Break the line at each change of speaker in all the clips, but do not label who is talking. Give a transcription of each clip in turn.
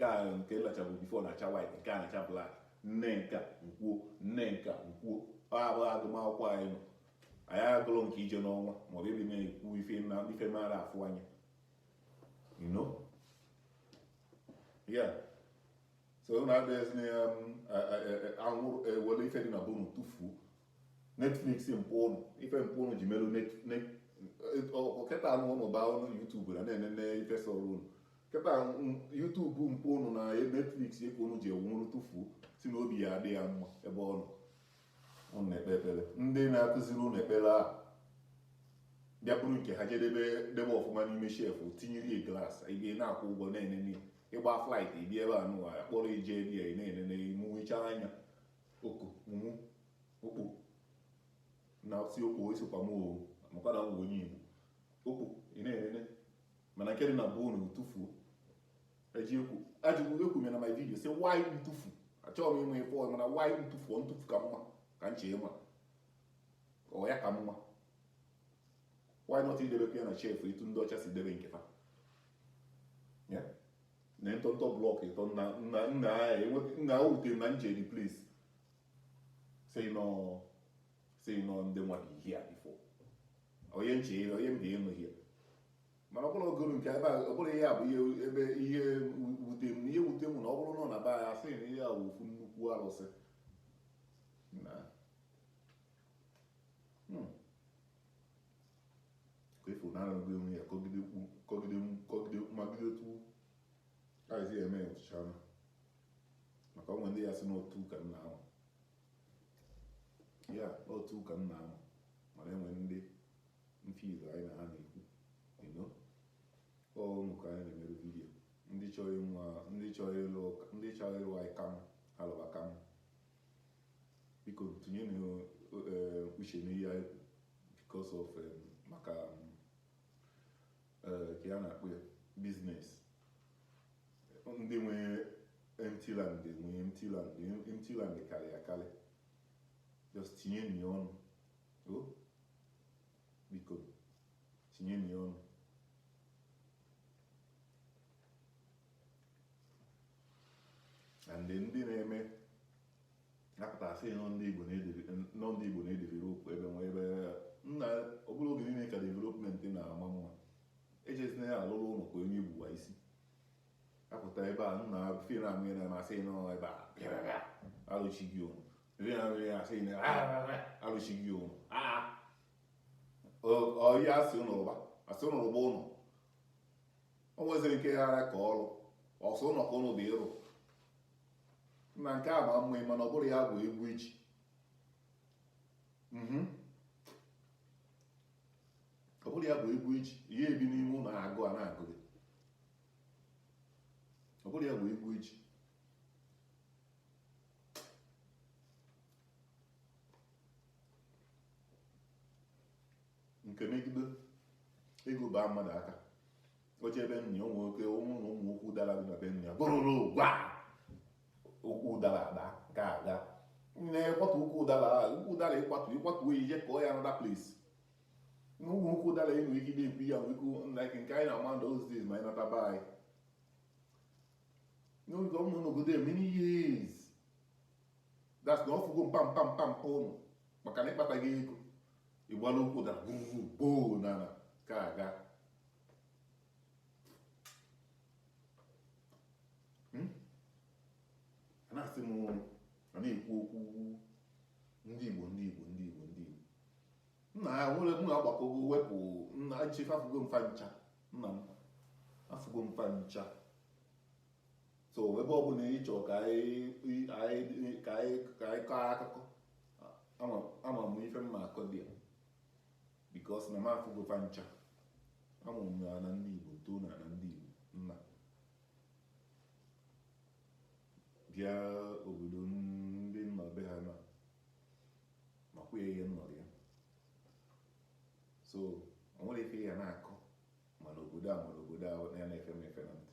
nke a nke na-achabu before na-acha white nke a na-acha black nne nka nkwuo nne nka nkwuo ọ bụghị agụmakwụkwọ anyị nọ anyị agụrụ nke ije n'ọnwa maọbụ ịdị na-ekwu ife na ife mara afụ anya you know yeah so unu abịaghịzi na ya um, anwụrụ ewere ife dị na be unu tụfuo Netflix nke ụnụ ife nke ụnụ ji merụ kịta anụ ụnụ baa ụnụ YouTube na na-enene ife sọrọ ụnụ kịta YouTube nke ụnụ na Netflix ka ụnụ ji enwụrụ tụfu si na obi ya adị ya mma ebe ọ nọ ụnụ na-ekpe ekpere ndị na-akụziri ụnụ ekpere abịa buru nke ha je debe debe ọfụma n'ime shelf tinyere ya glass ị bịa na-akwụ ụgwọ na-enene ị gbaa flight ị bịa ebe a nụwa ya kpọrọ ije ebe ya na-enene mụwecha anya ọkụ ụmụ okpo na-asị okpo esokwa m o maka na m bụ onye Igbo okpo ị na-enene mana nke dị na be unu tụfuo eji ekwu ajụgbu ekwu mere na my video sị why ntụfu achọghị m ịma ife ọzọ mana why ntụfu ntụfu ka mma ka nche ịma ọ ya ka mma why not idebekwa ya na shelf etu ndị ọcha si debe nke ha na ntọntọ blọk ịtọ nna ahụ wutere na nje replace say nọ si nọ ndị nwa gị ihe a before onye nche ihe onye mbe ịnụ ihe mana ọ bụrụ ogoro nke ebe a ọ bụrụ ihe a bụ ihe ebe ihe wute m ihe wute m na ọ bụrụ na ọ na be anyị a sị na ihe a wụ ofu nnukwu arụsị na hmm. ka efu na arụgị onwe ya kọgide ukwu kọgide m kọgide ukwu magide otu aghịzi ya eme ya ọchịcha anụ maka onwe ndị ya si n'otu ka m na-anwa ya otu ụka m na-ama mana e nwe ndị mfido anyị na ha na-ekwu na ọ ụnụ ka anyị na-emere video ndị chọrọ ịnwa ndị chọrọ ịlụ ụka- ndị chọrọ ịlụ anyị kam ha lụba kam biko tinye na eh, uche n'ihe anyị kwu because of eh, maka eh, ka ya na-akpụ ya business ndị nwe empty land nwe empty land empty land karị akarị just tinyeni ọnụ o biko tinyeni ọnụ and ndị na-eme na-apụta asị na ọ ndị Igbo na ọ ndị Igbo na-edevelop ebe nwe ebe nna ọ bụrọ oge niile ka development na-ama mma ejezina ya alụrụ ụlọ ka onye igbuwa isi apụta ebe a nna fi na amụ na masị nọ ebe a pịara alụchi gị ụlọ fi na amụ na asị na alụchi gị ụlọ ọya asị ụlọ rụba asị ụlọ rụba ụlọ o nweziri ike ya ara ka ọrụ ọsọ ụlọ ka ụlọ dị ịrụ na nke a ma mma mana ọ bụrụ ya bụ ego e ji ọ bụrụ ya bụ ego e ji ihe ebi n'ime ụlọ agụụ a na-agụ gị ọ bụrụ ya bụ ego e ji nke megide ego baa mmadụ aka o jee be nna ya ụmụ nwoke ụmụ na ụmụ nwoke ụdara dị na be nna ya bụrụrụ gwa ukwu ụdara ada ka aga nne kwatu ukwu ụdara ukwu ụdara ị kwatu ị kwatu oyi je kọọ ya another place n'ụmụ ukwu ụdara enwe ike na-ekwu ya nwekwu like nke anyị na-ama ndị those days ma anyị nataba anyị n'oge ụmụ n'obodo many years that's na ọ fụgo mpa mpa mpa mpa unu maka na ị kpata ego ị gbala ukwu ụdara gbuo na na ka aga hmm? a na-asị m a na-ekwu okwu ndị Igbo ndị Igbo ndị Igbo ndị Igbo nna ya nwere mụ agbakọgo wepụ nna nchefe afụgo m fa ncha na m afụgo fa ncha so ebe ọ bụla ị chọrọ ka anyị ka anyị ka anyị kọọ akụkọ ama m ife m ma-akọ there because na m afụgo fa ncha a mụrụ m n'ana ndị Igbo too n'ana Igbo nna bịa obodo ndị nna be ha na makwa ya ihe nnọrọ ya so o nwere ife ya na-akọ mana obodo a mana obodo a ya na-efe m efe na ntị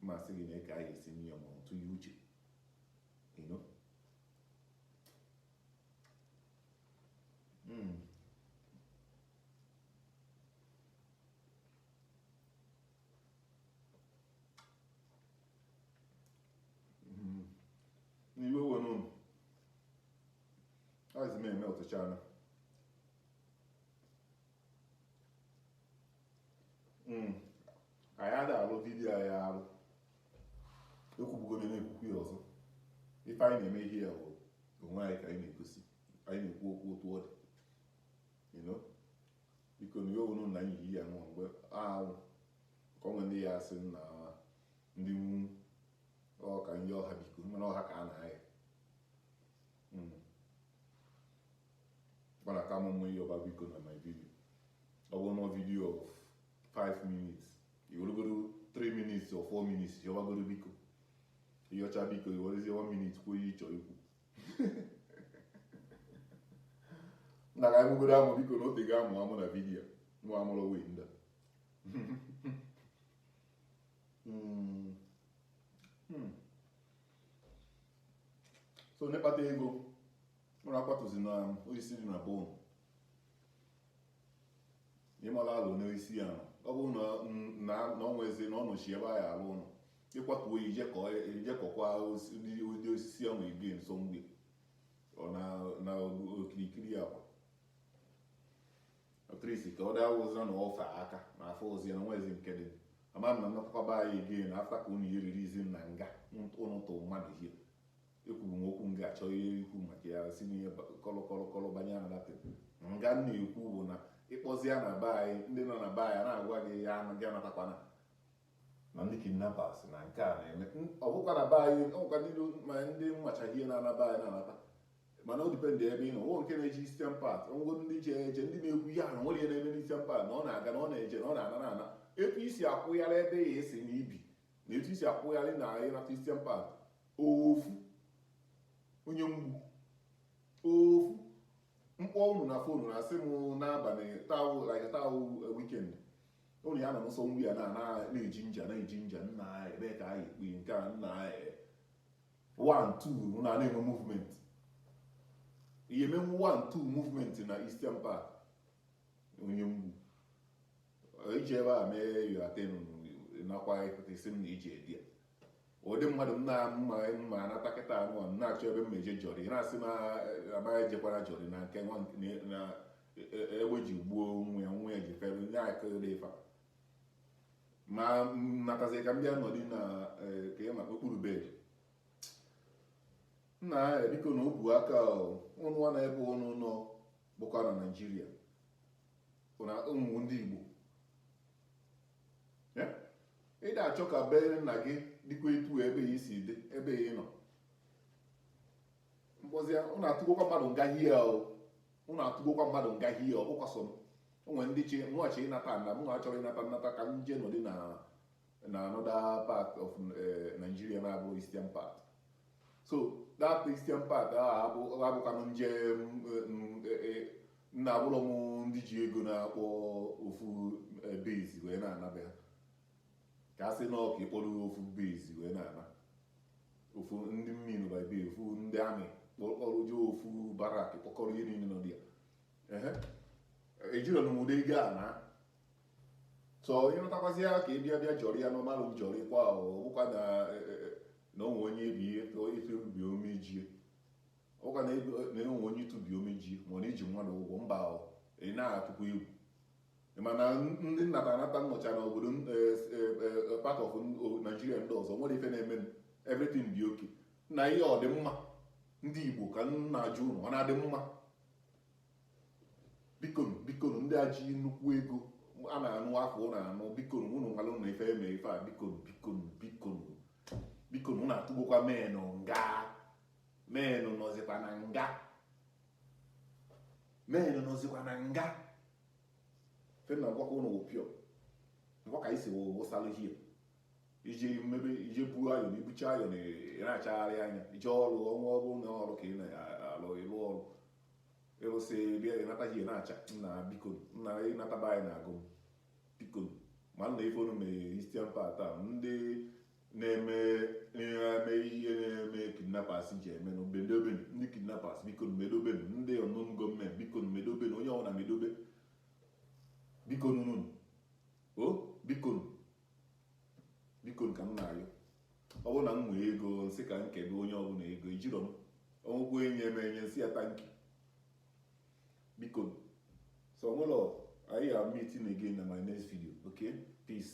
mmasị gị na ka anyị esi nye ya ma ọ tụnye uche you know Mm. Mm-hmm. na iwe ewena unu azị m eme ọtụcha anụ mm. anyị ada alụ video anyị alụ ekwubugo m na-ekwukwu ya ọzọ ife anyị na-eme here bụ onwe anyị ka anyị na-egosi anyị na-ekwu okwu otu ọ dị Biko na ya unu na nyihi ya nwa mgbe ahụ ka onwe ndị ya asị na ndị nwụnwụ ọ ka ndị ọha biko mana ọha ka a na-ahịa mana ka m mụ ịyọba biko na my video ọ bụ n'ọ video of 5 minutes i weregoro 3 minutes or 4 minutes yọbagoro biko ị yọcha biko i werezie 1 minute kwuo ihe ị chọrọ ikwu na ka amụgodo amụ biko na ote ga amụ amụ na vidiyo nwa amụrụ wee ndị so onye kpata ego nwere akwatuzi na osisi dị na be unu ịmala alụ n'osisi ya ọ bụrụ na ọ nwezi na ọ nọchi ebe a ya-alụ ụlọ ị kwatuo ya i jee kọkwa ụdị osisi ahụ ige nso mgbe na okirikiri akwa atrisi ka ọ daa wụzira na ọfa aka na afọ ozi na nwezi nke dị ama m na mmekwakọba anyị ige na afta ka unu yiriri izi na nga unu tụ mmadụ ihe ekwuru m okwu nga achọ ihe ikwu maka ya si n'ihe kọlọkọlọkọlọ banye na dapị nga m na-ekwu bụ na ị kpọzi ya na be anyị ndị nọ na be anyị na-agwa gị ya anaghị anatakwana na ndị kidnappers na nke a na-eme ọ bụkwa na be anyị ọ bụkwa n'ilu ma ndị mmachaghị ihe na-anaba anyị na-anata mana o depend ebe ị nọ nwo nke na-eji Eastern Part ngwo ndị ji eje ndị na-ekwu ihe ahụ nwere ihe na-eme n'Eastern Part na ọ na-aga na ọ na-eje na ọ na-ana na ana etu i si akwụgharị ebe ya esi na i bi na etu i si akwụgharị na ị nata Eastern Part ofu onye mgbu ofu mkpọ unu na phone na asị m n'abalị taa like taa weekend ụlọ ya na nsọ nri ya na-eji nja na-eji nja nna anyị ebee ka anyị kpiri nke a nna anyị one two na na-enwe movement ị ya emenwu one two movement na Eastern Part onye mgbu iji ebe a mee yoaten nakwa ịpụta isi m na iji edi ya ụdị mmadụ m na-ama mma anata kịta anụ na-achọ ebe m meje jọrị na-asị m amaghị ejekwara jọrị na nke egbe ji gbuo nwa ya nwa ya ji fere nye akịrị ifa ma natazi ka m bịa nọdị na e, ka ị maka okpuru bed nna ya e, biko na ọ bụ aka unu na ebe unu nọ bụkwa na Nigeria na ụmụ ndị Igbo ị na-achọ ka be nna gị dị ka etu ebe ya si dị ebe ị nọ mkpọzi unu atụgokwa mmadụ nga hie ahụ ụnụ atụgbokwa mmadụ nga hie ọ bụkwa sọ m o nwere ndị chi mụghachi ịnata na mụ achọrọ ịnata nnata ka m jee nọdị na na another part of eh, Nigeria na-abụ Eastern part so that Eastern part ahụ abụ- abụkwanụ nje m, eh, m, eh, eh, na abụrọ m ndị ji ego na-akpọ ofu eh, base wee na-ana be ha ka a sị na ọ ka ị kpọrọ ofu base wee na-ana ofu ndị mmiri by be ofu ndị army kpọrọ je ofu barrack kpọkọrọ ihe niile nọ dị ya ehe ejirọ m ụdị ego a na so ịrụtakwazi ya ka ị bịa bịa jọrọ ya n'ọmalụ njọrị kwa ọ bụkwa na e, e, e, na onwe onye ebi ihe tụọ ife ubi omejie ọkwa na enwe onye ịtụbi omejie ma ọ na-eji mmadụ ụgwọ mba ahụ ị na-atụkwa egwu mana ndị na-anata anata nọcha na obodo eh, eh, eh, part of Nigeria ndị ọzọ nwere ife na-eme everything dị okay nna ihe a ọ dị mma ndị Igbo ka m na-ajụ ụnụ ọ na-adị mma bikonu bikonu ndị a ji nnukwu ego a na-anụ afa ụnụ anụ bikonu ụnụ nwalụ na ife eme ife a bikonu bikonu bikonu bikonu ụnụ atụgokwa menụ nga menụ nọzikwa na nga menụ nọzikwa na nga ife m na-agwakwa ụnụ wopio ngwa ka isi wụsalụ hie i je maybe i je buo iron i bucha iron ị na-achagharị anya ije ọrụ ọnwa ọrụ na ọrụ ka ị na-alụ ịlụ ọrụ ịrụsị bịa ịnata hie na-acha nna biko nna ịnata be anyị na-agụ biko ụmụnne ife unu na Eastern part a ndị na-eme na-eme ihe na-eme kidnappers ji eme na obedobe ndị kidnappers biko medobe ndị unknown gunmen biko medobe onye ọbụla medobe biko nunu o biko biko ka m na-ayọ ọ bụrụ na m nwee ego m sị ka m kedu onye ọbụla ego ejirọ m ọnwụkwọ enye m enye m sị ya thank you biko so nwụlọ anyị ga-emeet again na my next video okay peace